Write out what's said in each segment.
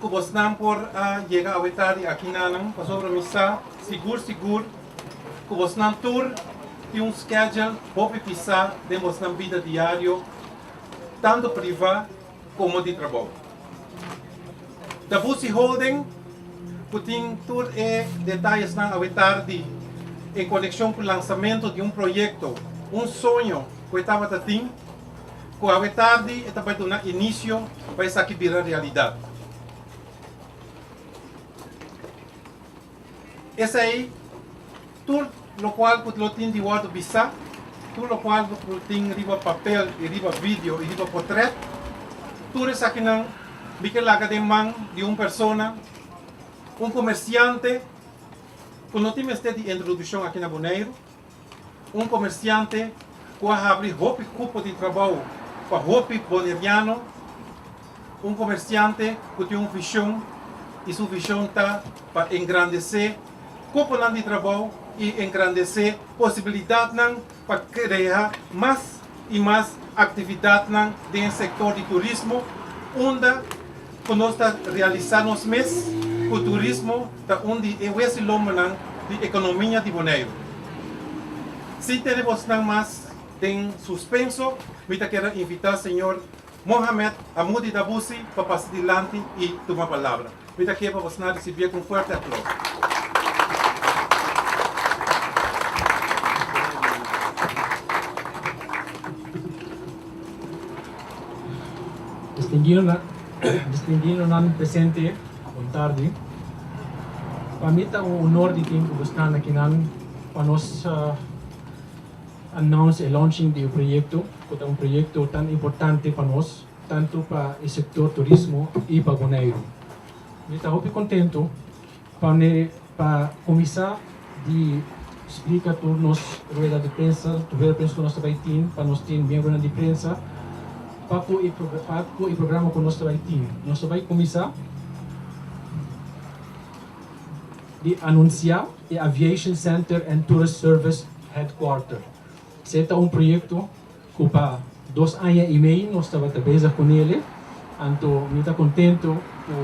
Ku bosnan por a yega awe tardi akinanan, pasobra mi sa sigur sigur ku bosnan tur tin un skedjel hopi pisá den bosnan bida diario, tantu privá komo di trabou. Ta Busi Holden ku tin tur e detayesnan awe tardi en konekshon ku lansamentu di un proyekto, un soño ku e tabata tin. Ku awe tardi e ta bai duna inisio pa esaki bira realidat. Esei tur lokual ku lo tin di wòrdu bisá, tur lokual ku lo tin riba papel i riba video i riba potrèt, tur esakinan mi ke laga den man di un persona, un komersiante ku no tin mester di introdushon aki na Boneiru. Un komersiante ku a habri hopi kupo di trabou pa hopi boneriano, un komersiante ku tin un vishon i su vishon ta pa engrandesé kuponan di trabou i engrandesé posibilidatnan pa krea mas y mas actividadnan den e sector di turismo unda cu nos ta realisa nos mes cu turismo ta un di e huesilombonan di economia di Boneiru. Sin tene bosnan mas den suspenso mi ta keda invita señor. Mohamed a mudi dabu si pa pasa dilanti i tuma palabra. Mi ta ke pa bosnan risibie ku un fuerte aplaus. Distinguidonan presente bon tardi. Pa mi ta un honor di tin ku bosnan akinan pa nos announce e launching di e proyekto. cu ta un proyecto tan importante pa nos, tanto pa e sector turismo y pa Boneiru. Mi ta hopi contento pa mi pa cuminsa di splica tur nos rueda di prensa, tur rueda di prensa cu nos ta bay tin, pa nos tin miembronan di prensa, pa cu e pa cu e programa cu nos ta bay tin. Nos ta bay cuminsa di anuncia e Aviation Center and Tourist Service Headquarter. Se ta un proyekto ku pa dos aña i mei nos tabata bezig ku nele, anto mi ta kontentu ku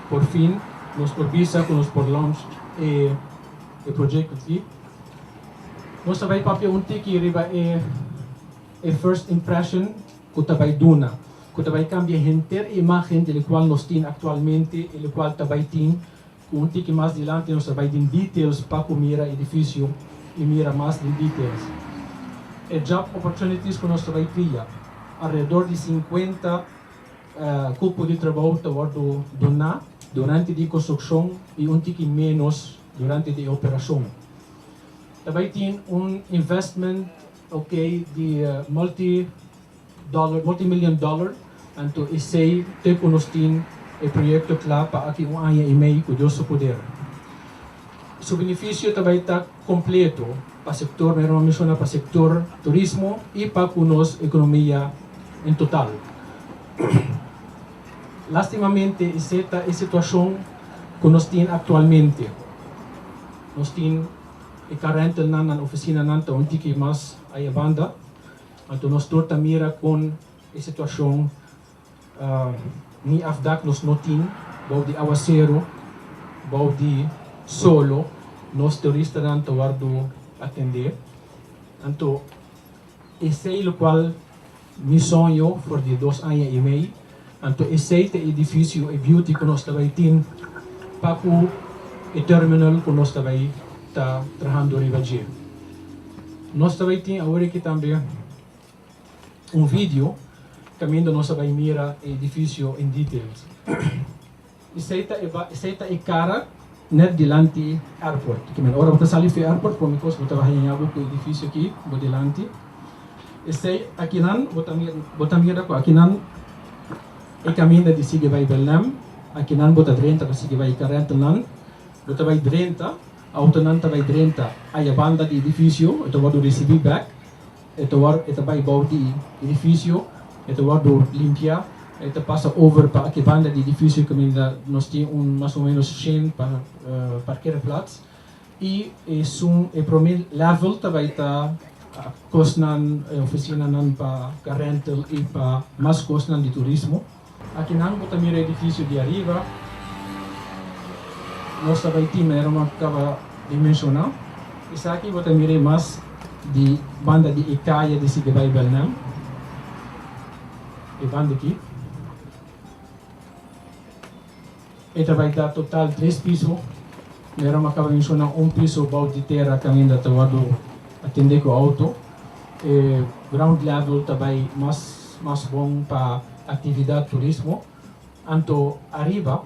por fin nos por bisa ku nos por launch e proyekto aki. Nos ta bai papia un tiki riba e e first impression ku ta bai duna, ku ta bai kambia henter e imágen dje lokual nos tin aktualmente i lokual ta bai tin, Un tiki mas dilanti nos a bai den details pa ku mira edifisio i mira mas den details e job opportunities ku nos ta bai kria. Alredor di sinkuenta kupo di trabou ta wòrdu duná durante di konstrukshon i un tiki ménos durante di e operashon. Ta bai tin un investment, okay, di multi Dollar, multimillion dollar, anto esey te cu nos tin e proyecto cla pa aki un aña y mey, cu Dios su poder. Su beneficio ta bay ta completo pa sector, mey Roma menciona, pa sector turismo y pa cu nos economia en total. Lastimamente ese ta e situacion cu nos tin actualmente. Nos tin e car rental nan, nan oficinanan ta un tiki mas ayabanda. Anto nos tur ta mira kon e situashon ni afdak nos no tin bou di awaseru, bou di solo nos turistanan ta wordu atendé. Anto esei lokual mi soño for di dos aña i mei. Anto esei ta e edifisio, e biuti ku nos ta bai tin pa ku e terminal ku nos ta bai ta trahando riba dje. Nos ta bai tin awor aki tambe un video kaminda nos a bai mira e edifisio en details. Esei ta e ba, esei ta e kara nèt dilanti airport. Kimen ora bo ta sali fu e airport, prome kos bo ta baha ñaña bo ku edifisio aki bo dilanti. Esei akinan bo ta mira, bo ta mira ku akinan e kaminda di sigui bai Belem. Akinan bo ta drenta pa sigui bai Karentelnan. Bo ta bai drenta, outonan ta bai drenta ayabanda di edifisio, e ta wòrdu risibí bèk. E ta wòrdu, e ta bai bou di edifisio, e ta wòrdu limpiá, e ta pasa over pa aki banda di edifisio kaminda nos tin un mas o ménos shèn pa parkeerplats i esun e promé lèvel ta bai ta kosnan, ofisinanan pa karentel i pa mas kosnan di turismo. Akinan ku ta mira e edifisio di ariba, nos ta bai tin manera no kaba di menshoná. Esaki bo ta mir'é mas di banda di e kaya di sigi bai Belnèm, e banda akí. E ta bai ta total tres piso, mero m'akaba di menshoná un piso bou di tera kaminda ta wòrdu atendé ku outo. E ground level ta bai mas mas bon pa aktividat turismo. Anto ariba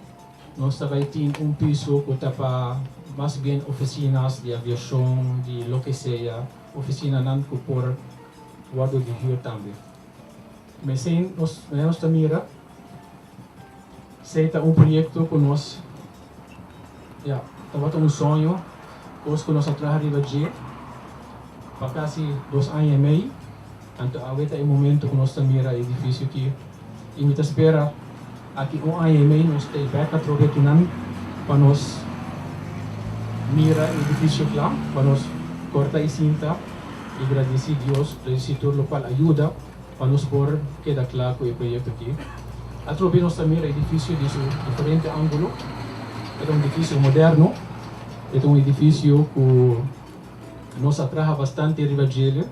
nos ta bai tin un piso ku ta pa mas bien ofisinas di aviashon, di loke sea, ofisinanan ku por wòrdu di hür tambe. Mesin nos mester nos ta mira si ta un proyekto ku nos ya tabata un soño, kos ku nos a traha riba dje pa kasi dos aña i mei. Anto awe ta e momentu ku nos ta mira e edifisio ki i mi ta spera. Aki un aña y mei nos ta e beka trobe akinan pa nos mira e edificio cla, pa nos corta e cinta y gradici Dios p'e situr locual a yuda pa nos por keda cla cu e proyecto aki. Atrobe nos ta mira e edificio di su diferente angulo. E ta un edificio moderno, e ta un edificio cu nos a traha bastante riba djele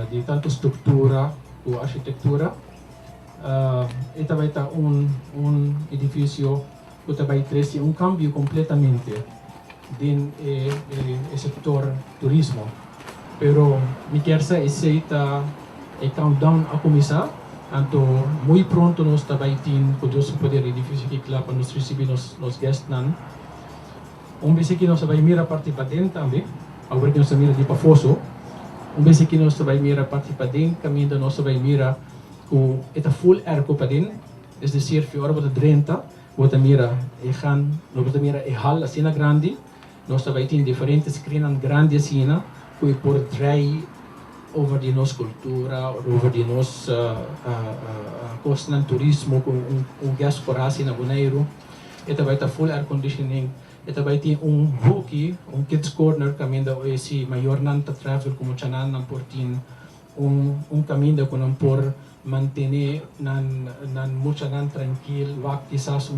di tanto structura cu architectura. E ta bai ta un un edifisio ku ta bai trese un kambio kompletamente den e e sektor turismo. Pero mi kier sa esei ta e countdown a kuminsá, anto muy pronto nos ta bai tin, ku Dios su poder, e edifisio aki kla pa nos risibí nos nos gèstnan. Un bes aki nos a bai mira parti paden tambe, awor ku nos ta mira di pafó so. Un bes aki nos ta bai mira parti paden, kaminda nos ta bai mira ku e ta full air kupedin, es desir fi ora bo ta drenta bo ta mira e gan, bo ta mira e hal asina grandi, nos ta bai tin diferente screennan grandi asina ku e por drai over di nos kultura, over di nos kosnan, turismo ku un diaspora hasi na Boneiru, e ta bai ta full air conditioning, e ta bai tin un hoekie, un kids corner kaminda oe si mayornan ta travel ku muchanan nan por tin Un kaminda ku nan por mantené nan muchanan trankil wak kisas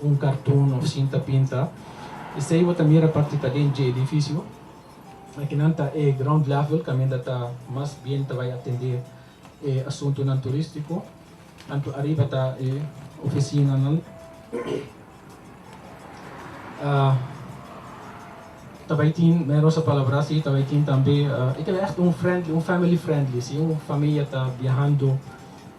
un karton òf sinta pinta. Esei bo ta mira parti ta den dje edifisio. Akinan ta e ground level kaminda ta mas bien ta bai atendé e asuntunan turístiko. Anto ariba ta e oficinanan. Ta bai tin, mero sa palabra si, ta bai tin tambe, e ta bai ègt un friendly, un family friendly, si un famia ta biahando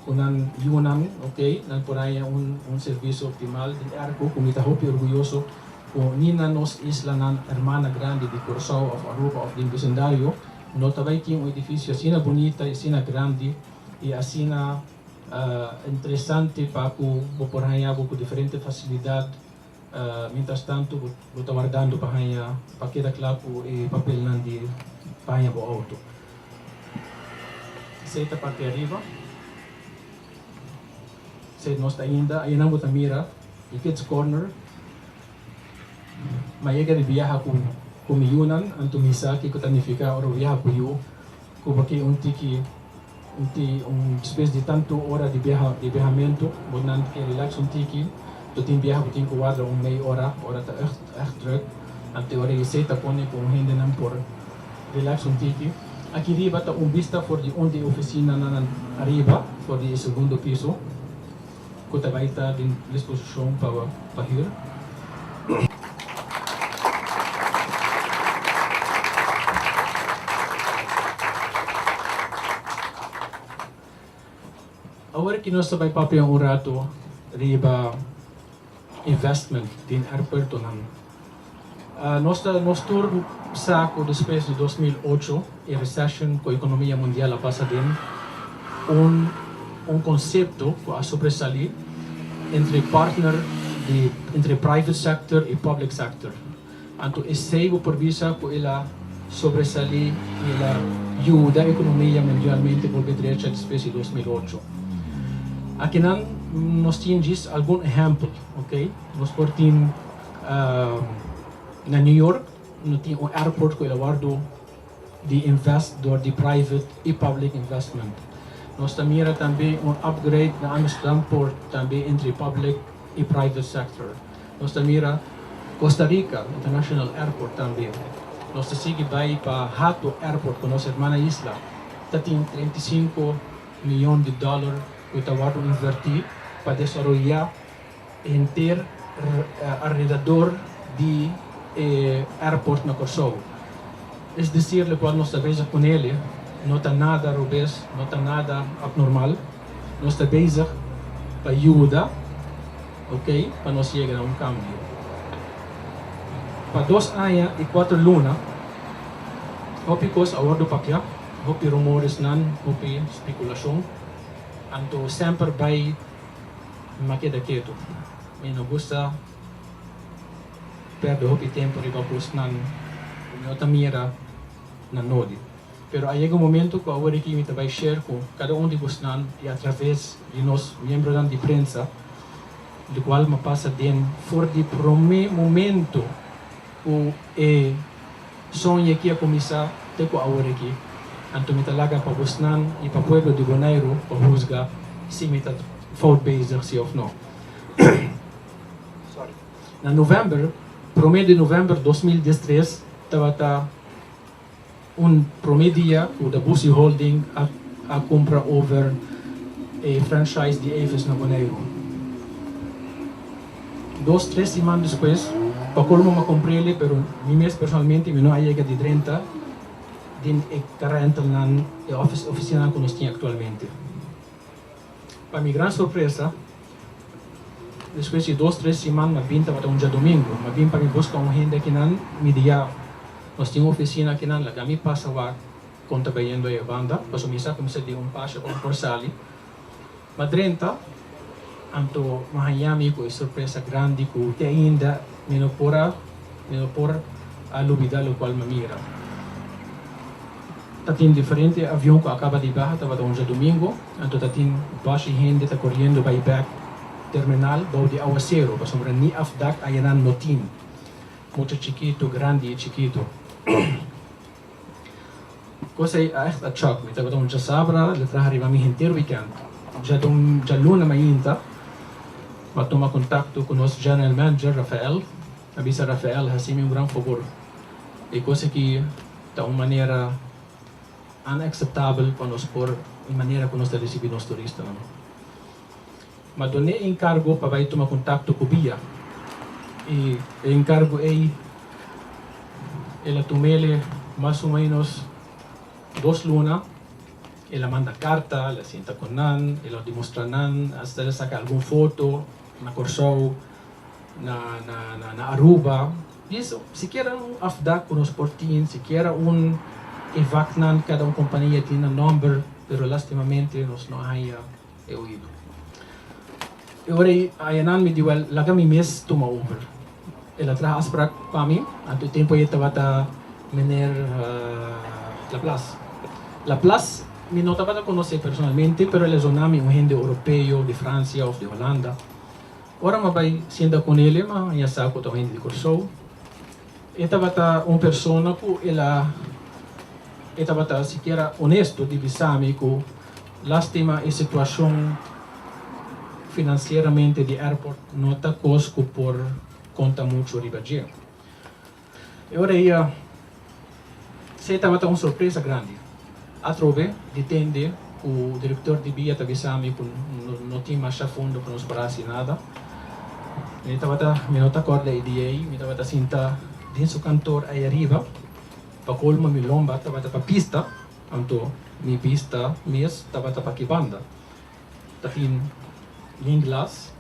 ku nan yunan, okay, nan por haña un un servicio optimal di airco ku mi ta hopi orguyoso ku ni na nos islanan hermana grandi di Curaçao of Aruba of den bisindario no ta bai tin un edificio asina bunita i asina grandi, y asina interesante pa cu bo por haña bo cu diferente facilidad mientras tanto bo ta wardando pa haña pa keda cla cu e papelnan di pa haña bo auto. Esey ta parti ariba, esey nos ta ainda, ayenan bo ta mira y kids corner. Mayega di biaha ku ku mi yunan, anto mi sa kiko ta nifiká ora bo biaha ku yu, ku bo tin un tiki un ti un spes di tantu ora di biaha di biahamentu, bo nan ke relax un tiki, bo tin biaha bo tin ku warda un mei ora, ora ta èrt èrt drùk, anto ora e sey ta pone ku un hendenan por relax un tiki. Aki riba ta un bista for di un di e ofisinanan ariba, for di e segundo piso. cu ta bay ta den disposicion pa pa hür. Awor ki nos ta bay papia un rato riba investment den aeropuertonan. Nos ta nos tur sa cu despues di dos mil ocho, e recession cu economia mundial a pasa den, un un concepto cu a sobresali entre partner di entre private sector y public sector. Anto esey bo por bisa cu el a sobresali y el a yuda economia mundialmente bolbe drecha despues di dos mil ocho. Akinan nos tin djis algun ehempel, ok. Nos por tin. Na New York no tin un airport cu el a wordo di invest door di private y public investment. Nos ta mira tambe un upgrade na Amsterdam Port tambe entre public y private sector. Nos ta mira Costa Rica international airport tambe. Nos ta sigui bay pa Hato airport cu nos hermana isla ta tin treinta y cinco miyon di dollar cu ta wordo inverti pa desaroya. henter alredador di e airport na Kòrsou. Es decir lokual nos ta bezig ku nele no ta nada robes, no ta nada abnormal. Nos ta bezig pa yuda okay pa nos yega na un kambio. Pa dos aña i kuater luna hopi kos a wòrdu papia, hopi rumoresnan, hopi spekulashon. Anto semper bai. Mi ma keda ketu. Mi no gusta perde hopi tempu riba kosnan ku mi no ta mira na nodi. Pero a yega un momentu ku awor aki mi ta bai share ku kada un di bosnan i atraves di nos miembronan di prensa lokual mi a pasa den for di promé momentu ku e Soña kia kuminsá te ku awor aki. Anto mi ta laga pa bosnan i pa pueblo di Boneiru pa husga si mi ta fout bezig si òf no. Sorry. Na novèmber, promé di novèmber dos mil dies tres, tabata un promé dia ku Da Busi Holding a a kumpra over e franchise di Avis na Boneiru. Dos tres siman despues, pa colmo m'a comprele, pero mi mes personalmente mi no a yega di drenta den e karentelnan, e office, oficinan cu nos tin actualmente. Pa mi gran sorpresa, despues di dos tres siman m'a bin tabata un djadomingo, m'a bin pa mi busca un hende akinan midia nos tin un oficina akinan, laga mi pasa wak con ta bayendo e banda, pasobra mi sa cu mi sa di un pasha pa mi por sali. Ma drenta, anto mi haña mi ku e sorpresa grandi ku te ainda mi no por a mi no por a lubida lokual mi a mira. Tatin diferente avion ku a kaba di baha, tabata un diadumingu, anto tatin bòshi hende ta koriendo bai bèk terminal bou di awaseru, pasobra ni afdak ayanan no tin, mucha chikitu, grandi i chikitu. Cos ey a echt a chòk mi. Tabata un chasabra le traha riba mi henter weekend. Djaluna mainta m'a tuma contacto cu nos general manager Rafael. A bisa Rafael haci mi un gran fabor. E cos aki ta un manera unacceptabel pa nos por e manera cu nos ta ricibi nos turistanan. Ma doné e enkargo pa bai tuma kontakto ku bia i e enkargo ei el a tum'el e mas o ménos dos luna. El a manda karta, el a sinta ku nan, el a demostrá nan, asta el a saka algun foto na Kòrsou, na na Aruba. Yes, sikiera un afdak ku nos por tin, sikiera un e vaknan, kada un kompania tin nan nòmber, pero lastimamente nos no a haña. e oido. E ora ei Ayanan mi di, Wèl, laga mi mes tuma over. El a traha afsprak pa mi, anto e tempu ei tabata meneer Laplas. Laplas mi no tabata konos'é personalmente, pero el a zona mi un hende oropeo di Fransia òf di Holanda. Ora mi a bai sienta ku nele mi a haña sa ku ta un hende di Kòrsou. E tabata un persona ku el a e tabata sikiera onesto di bisa mi ku. Lastima e situacion financieramente di airport no ta cos cu por conta mucho riba dje. E ora ey a sey tabata un sorpresa grandi. Atrobe di tende cu director di bia ta bisa mi cu no tin masha fondo pa nos por haci nada. Mi tabata, mi no ta corda e dia ey, mi tabata sinta den su cantor ey ariba. Pa colmo mi lomba tabata pa pista. Anto mi bista mes tabata pa ki banda. Ta tin nin glas.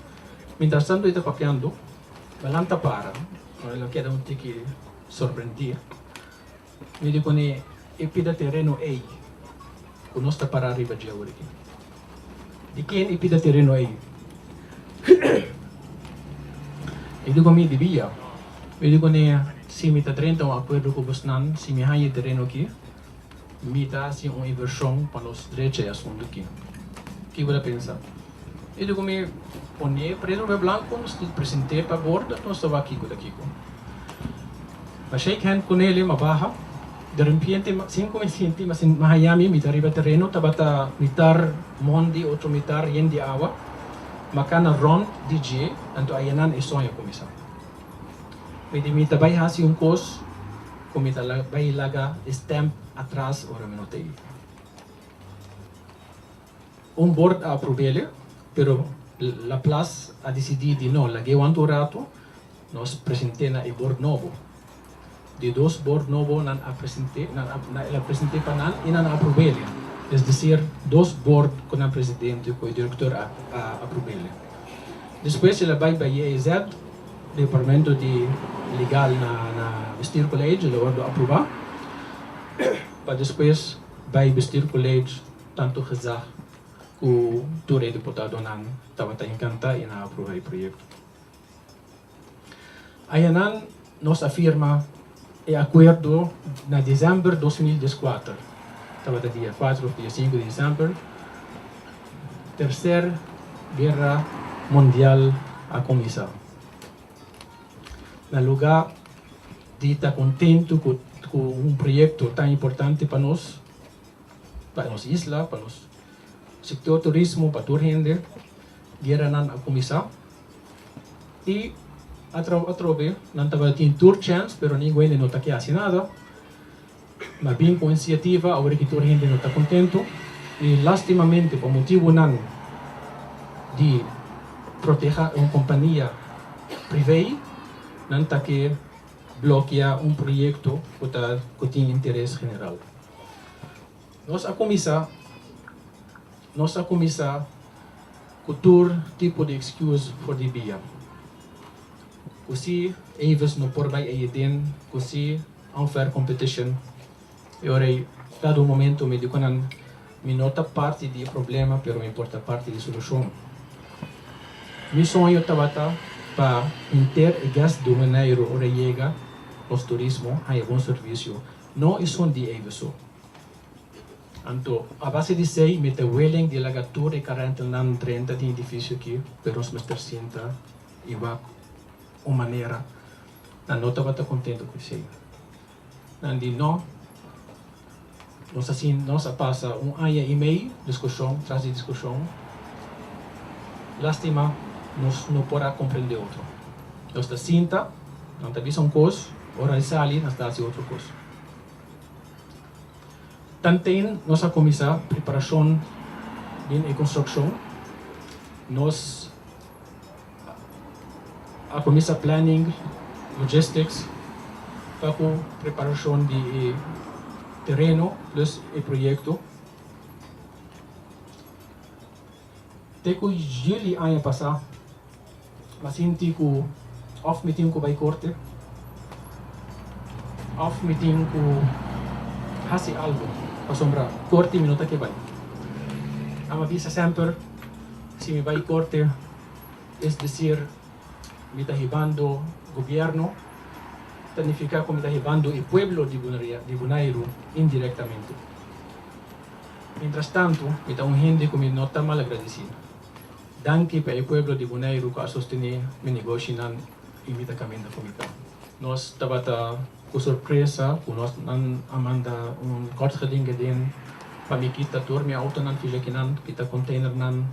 Mientras tanto e ta papiando. Balan ta para. El a keda un tiki sorprendí. Mi di kune e pida tereno ey ku nos ta para riba dje awe aki? Di ken e pida tereno ey? E di ku mi, Di Bia. Mi di kune, Si mi ta drenta un akuerdo ku bosnan, si mi haña e tereno aki, Mi ta hasi un invershon pa nos strecha e asuntu ki. Ki bo ta pensa? I luku mi pone e presu papia blanku, mi sta present'é pa bordo ku nos ta wak kiko ta kiko. Mi shake hand ku Nele, mi baha. Derempiente, sin ku mi sinti, mi sinti mi haña mi, mi ta riba tereno, tabata mitar mon di otro mitar yen di awa. Mi kana rònt di dje, anto ayenan e soño kuminsá. Mi di mi ta bai hasi un kos ku mi ta bai laga e stamp atras ora mi no ta ei. Un bord a aprob'ele, pero La Plas a disidí di no lag'e wan tur ratu. Nos present'e na e bord nobo. Di dos bord nobo nan a present'e, el a present'e pa nan i nan a aprob'ele. Es disir, dos bord ku nan presidente ku e direktor a aprob'ele. Despues el a bai pa IEZ, Departamento di Legal na na Bestuur College, el a wordo apruba pa despues bai Bestuur College tanto Gezag ku tur e diputadonan tabata enkantá i nan a apruba e proyekto. Ayanan nos a firma e akuerdo na desèmber dos mil dies kuater, tabata dia kuater òf dia sinku di desèmber, Terser Guera Mundial a kuminsá. Na luga di ta kontentu ku ku un proyekto tan importante pa nos, pa nos isla, pa nos sektor turismo, pa tur hende, gueranan a kuminsá. Y atrou atrobe nan tabata tin tur chèns pero ni Wende no ta ke hasi nada. Nan bin ku un insiativa awor ki tur hende no ta kontentu y lastimamente pa motibunan di proteha un kompania privé nan ta ke blokia un proyekto ku ta ku tin interes general. Nos a kuminsá Nos a kuminsá ku tur tipo di excuse for di bia. Ku si Avis no por bai ei den ku si unfair competition e ora ei. Kada un momento mi di ku nan mi no ta parti di e problema pero mi por ta parti di solushon. Mi soño tabata pa henter e guest di Huneiru ora e yega nos turismo haña bon servisio No esun di ebe su. Anto, a base di esei, mi ta willing di laga tur e karentelnan drenta den edifisio aki, pero nos mester sinta i wak un manera. Nan no tabata kontentu ku esei. Nan di no. Nos a sin, nos a pasa un aña i mei diskushon tras di diskushon. Lastima, nos no por a komprende otro. Nos ta sinta, nan ta bisa un kos. Ora e sali nos ta hasi otro kos. Tanten nos a kuminsá preparashon den e konstrukshon, nos a kuminsá planning, logistics, ta ku preparashon di e tereno plus e proyekto. te ku yuli aña pasá mi a sinti ku òf mi tin ku bai korte òf mi tin ku hasi algu pasobra korte mi no ta ke bai. Ame a bisa semper si mi bai korte es desir mi ta hibando gobièrnu, ta nifiká ku mi ta hibando e pueblo di Bonaire indirektamente. Mientras tanto, mi ta un hende cu mi no ta malagradeci. Danki pa e pueblo di Buneiru cu a sostene mi negoshinan y mi ta caminda cu mi can. Nos tabata cu sorpresa cu nos nan a manda un kortgedingeding pa mi kita tur mi autonan fiju akinan ki ta containernan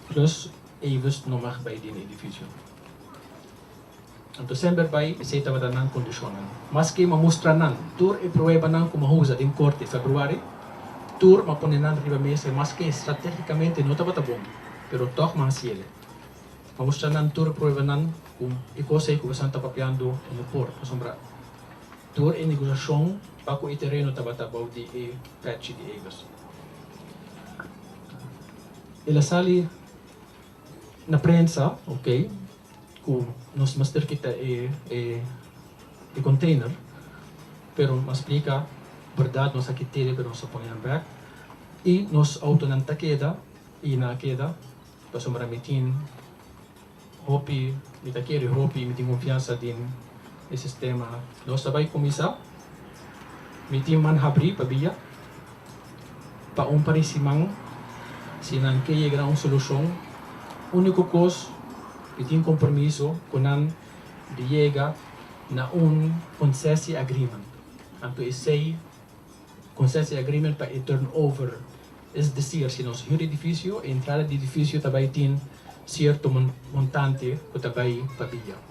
plus Avis no mag bay den e edificio. Anto semper bai esei tabata nan kondishonnan. Maske m'a mustra nan tur e pruebanan ku m'a usa den korte Februari, tur m'a pone nan riba mesa i maske stratégikamente no tabata bon, pero tòg m'a hasi el. M'a mustra nan tur e pruebanan ku e kos ei ku boso a ta papiando e no por, pasobra tur e negosiashon pa ku e tereno tabata bou di e pèchi di elos. El a sali na prensa, oke. Ku nos mester kita e konteiner, pero mas plika bèrdat nos a kit'e pero nos a pon'e bèk i nos outonan ta keda i nan a keda pasobra mi tin hopi mi ta kere hopi mi tin konfiansa den e sistema nos ta bai kuminsá mi tin man habri pabia. Pa un parisiman, si nan ke yega na un solushon, uniko kos di tin kompromiso ku nan di yega na un konsesi agreement. Anto esei konsesi agreement pa e turnover, es desir si nos hür edifisio, e entrada di edifisio ta bai tin sierto montante ku ta bai pa bia.